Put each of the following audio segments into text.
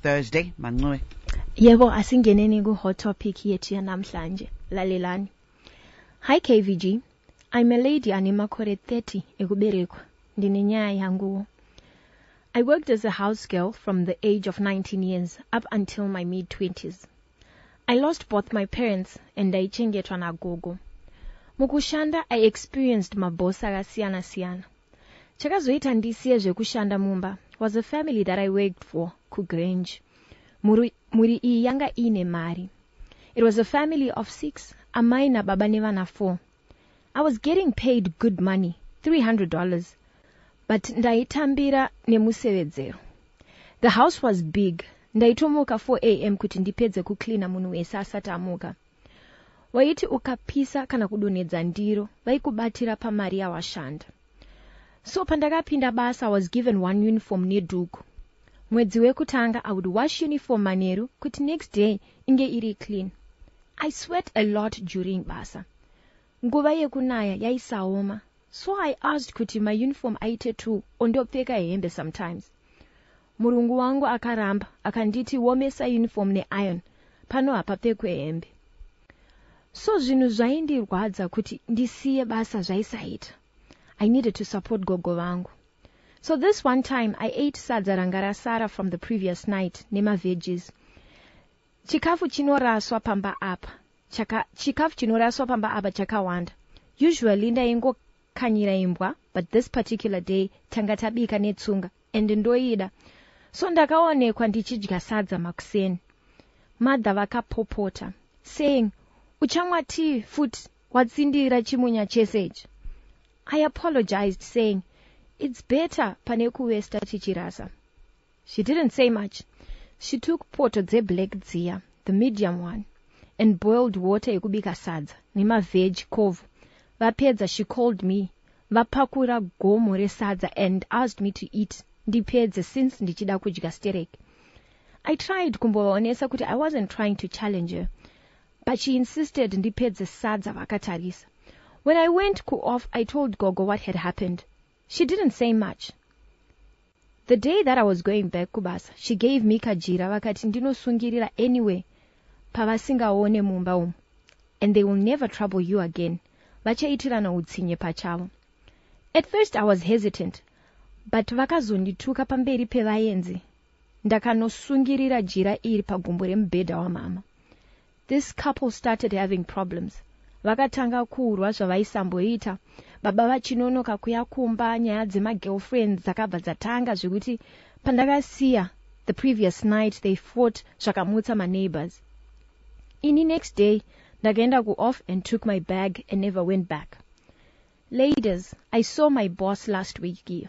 Thursday mancoe. Yebo asingeneni ku hot topic yethu yanamhlanje. Lalelani. Hi KVG. I'm a lady ane makore 30 ekuberekwa. Ndine nyaya yanguwo. I worked as a house girl from the age of 19 years up until my mid 20s. I lost both my parents and ndaichengetwa nagogo. Mukushanda I experienced maboss akasiyana siyana. Chakazoita ndisiye zvekushanda mumba was a family that I worked for kuGrange. Mhuri, mhuri iyi yanga iine mari. It was a family of six, amai nababa nevana four. I was getting paid good money, $300, but ndaitambira nemusevedzero. The house was big, ndaitomuka 4 am kuti ndipedze kucleaner munhu wese asati amuka. Waiti ukapisa kana kudonhedza ndiro vaikubatira pamari yawashanda. So pandakapinda basa I was given one uniform nedhuku. Mwedzi wekutanga I would wash uniform manheru kuti next day inge iri clean. I sweat a lot during basa. Nguva yekunaya yaisaoma so I asked kuti my uniform aite two ondopfeka hembe sometimes. Murungu wangu akaramba akanditi womesa uniform ne iron pano hapapfekwe hembe. So zvinhu zvaindirwadza kuti ndisiye basa zvaisaita. I needed to support gogo vangu. So this one time I ate sadza ranga rasara from the previous night nema veggies. Chikafu chinoraswa pamba apa chaka chikafu chinoraswa pamba apa chakawanda. Usually ndaingokanyira imbwa but this particular day tanga tabika netsunga. and ndoida so ndakaonekwa ndichidya sadza makuseni mother vakapopota saying uchamwa tea futi watsindira chimunya chese ichi I apologized saying it's better pane kuwesta tichirasa she didn't say much she took poto dzeblack dziya the medium one and boiled water yekubika sadza nemaveg covo Vapedza she called me vapakura gomo resadza and asked me to eat ndipedze since ndichida kudya sterek. I tried kumbovaonesa kuti I wasn't trying to challenge her but she insisted ndipedze sadza vakatarisa. When I went kuoff I told gogo what had happened. She didn't say much. The day that I was going back kubasa, she gave me kajira vakati ndinosungirira anywhere pavasingaone mumba umu and they will never trouble you again, vachaitirana hutsinye pachavo. At first I was hesitant but vakazondituka pamberi pevaenzi ndakanosungirira jira iri pagumbo remubhedha wamhamha. This couple started having problems vakatanga kurwa zvavaisamboita baba vachinonoka kuya kumba nyaya dzema girlfriends dzakabva dzatanga zvekuti pandakasiya the previous night they fought zvakamutsa ma neighbours ini next day ndakaenda ku off and took my bag and never went back ladies I saw my boss last week iyo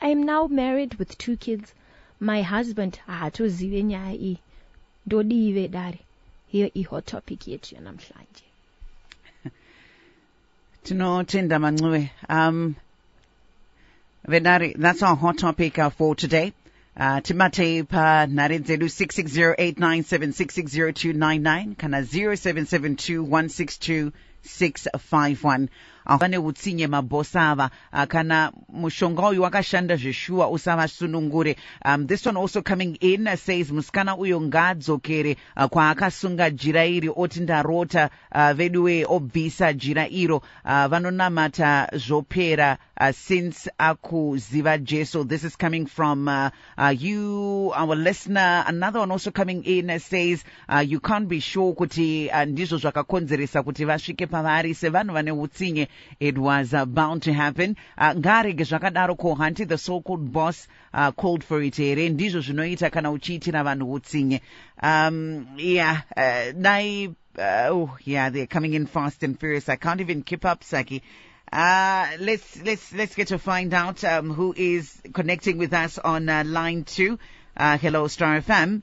I am now married with two kids my husband haatozive nyaya iyi ndodii vedare hiyo ihot topic yetu yanamhlanje tinotenda mancuve um, vedare that's our hot topic uh, for today Uh, tibatei panhare dzedu 660897660299 kana 0772162651 Ah, vane hutsinye maboss ava ah, kana mushonga uyu wakashanda zveshuwa usavasunungure um, this one also coming in ah, says musikana uyo ngaadzokere ah, kwaakasunga jira iri oti ndarota ah, veduwee obvisa jira iro ah, vanonamata zvopera ah, since akuziva jesu this is coming from ah, ah, you our listener another one also coming in ah, says uh, you can't be sure kuti uh, ndizvo zvakakonzeresa kuti vasvike pavari sevanhu vane utsinye it was uh, bound to happen uh, ngaarege zvakadaro ko hanti the so called boss uh, called for it here ndizvo zvinoita kana uchiitira vanhu utsinye um, yeah uh, dai uh, oh, yeah they're coming in fast and furious i can't even keep up saki uh, let's let's let's get to find out um, who is connecting with us on uh, line two. Uh, hello, Star FM.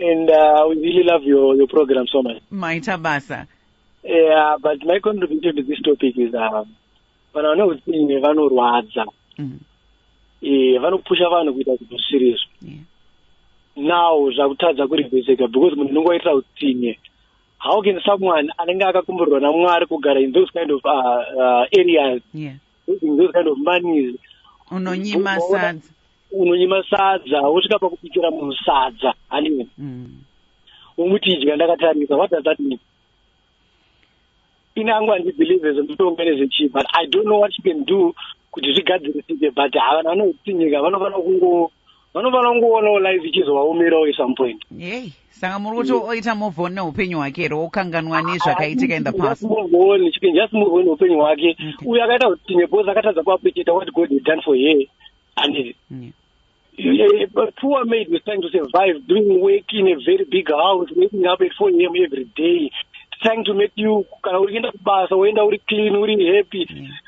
and uh, we really love your, your program so much maita basa yeah but my contribution to this topic is uh, vanhu vane utsinye vanorwadza mm. eh, vanopusha vanhu kuita zvinhu zvisiri izvo yeah. now zvakutadza kurivheseka because munhu unenge waitira utsinye how can someone anenge akakumburirwa namwari kugara in those kind of uh, uh, areas yeah. Using those kind of monies. Unonyima sadza. Unonyima sadza, wosvika pakupikira munhu sadza, handiwe. Mm. Umuti idya ndakatarisa, what does that mean? Ini angu handibelieve zvemutongo nezvechi, but I don't know what you can do kuti zvigadzirisike, but havana vanotinyika vanofanira kungo vanofanira kungoonawo life ichizovaomerawo at some point hey saka muri kuti oita move on neupenyu hwake here wokanganwa nezvakaitika in the past move on she can just move on neupenyu hwake uyo akaita kuti nebos akatadza kuappreciata what god has done for her and yeah. Yeah, but poor maid was trying to survive, doing work in a very big house, waking up at 4 a.m. every day, trying to make you, kana urienda kubasa, woenda uri clean, uri happy. Yeah.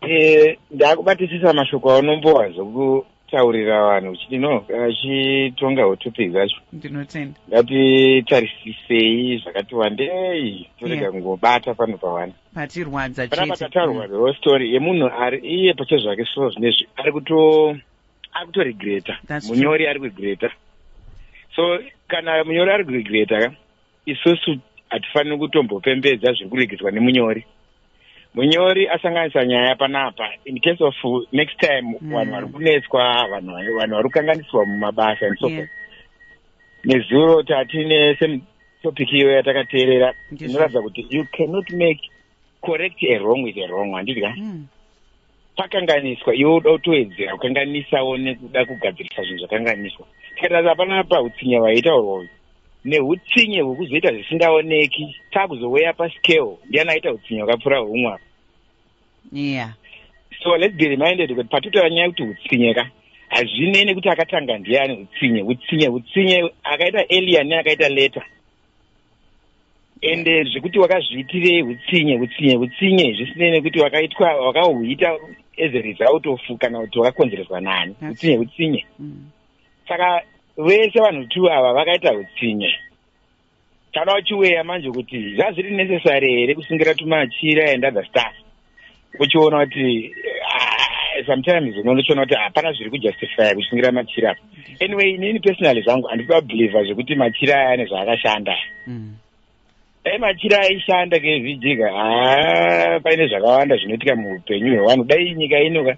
Eh, ndakubatisisa mashoko aunombowa zvokutaurira vanhu uchiti no achitonga hotopic zvacho ndinotenda ngatitarisisei zvakati wandei torega Yeah. kungobata pano pawani patirwadza panapa chete tataurwa the whole story yemunhu ari iye pache zvake so zvinezvi ari kuto ari kutoregreta That's true. munyori ari kuregreta so kana munyori ari kuregreta ka isusu hatifaniri kutombopembedza zviri kuregedzwa nemunyori munyori asanganisa nyaya panapa in case of next time mm. vanhu vari kunetswa vanhu vari kukanganisirwa mumabasa and so forth nezuro tatine same topic iyo yatakateerera inoratidza kuti you cannot make correct a wrong with a wrong handidya mm. pakanganiswa iwe uda kutowedzera kukanganisawo nekuda kugadzirisa zvinhu zvakanganiswa tikatarisa hapana pautsinye vaitaurwa uyu neutsinye hwekuzoita zvisingaoneki takuzoweya pascale ndiyani aita utsinye hwakapfuura humwe apa yeah. so let's be reminded kuti patitaura nyaya yekuti utsinye ka hazvinei nekuti akatanga ndiyani utsinye utsinye utsinye akaita alien akaita letter ende zvekuti wakazviitirei utsinye utsinye utsinye zvisinei nekuti wakaitwa wakahuita as a result of kana kuti wakakonzereswa nani utsinye utsinye mm. saka vese vanhu two ava vakaita utsinye kana uchiweya manje kuti zvazviri necessary here kusungira tumachira and other stuff uchiona kuti ah, sometimes unochiona kuti hapana zviri kujustifya kusungira machiri apa anyway inini personally zvangu handisi babelieve zvekuti machiri aya ane zvaakashanda mm. dai eh, machiri aishanda kevhijika haa ah, paine zvakawanda zvinoitika muupenyu hwevanhu dai nyika inoka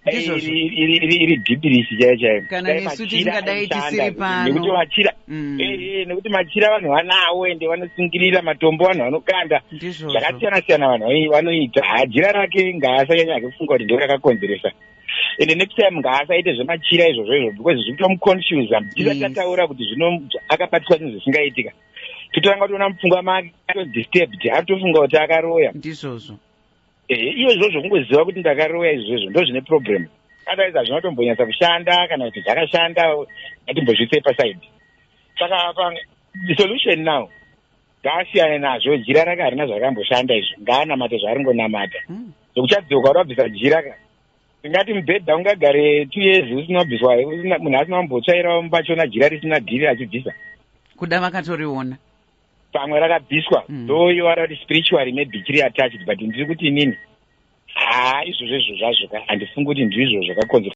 Ndizvozvo. iri iri- iri- iri dhipirisi chaiyo chaiyo Kana Dai nesu machira tingadai aishanda, tisiri pano. nekuti machira Mm. Eh, eh, nekuti machira vanhu vanawo ende vanosungirira matombo vanhu vanokanda Ndizvozvo. zvakasiyana siyana vanhu vai- vanoita Ha, jira rake ngaasanyanya hake kufunga kuti ndiro rakakonzeresa ende next time ngaasaite zvemachira izvozvo izvo because zviri kutomuconfusa tisati Yes. tataura kuti zvino akabatwa zvinhu zvisingaitika totanga kutoona mupfungwa make atodisturbed atofunga kuti akaroya Ndizvozvo. ehe iyo izvozvo kungoziva kuti ndakaroya izvozvo ndo zvine problem otherwise hazvina kutombonyatsa kushanda kana kuti zvakashanda atimbozvitse pasaidi saka apa the solution now ngaasiyane nazvo jira rake harina zvarakamboshanda izvo ngaanamate zvaaringonamata hmm. zvokuchadzoka kuti wabvisa jira ka tingati mubhedha ungagare two years usina kubviswa munhu asina kumbotsvairawo mubachona jira risina dhiri achibvisa kuda vakatoriona pamwe rakabviswa mm. though you are kuti spiritually maybe chiri attached but ndiri kuti inini haa izvozvo izvo zvazvo ka handifungi kuti ndizvo zvakakonzera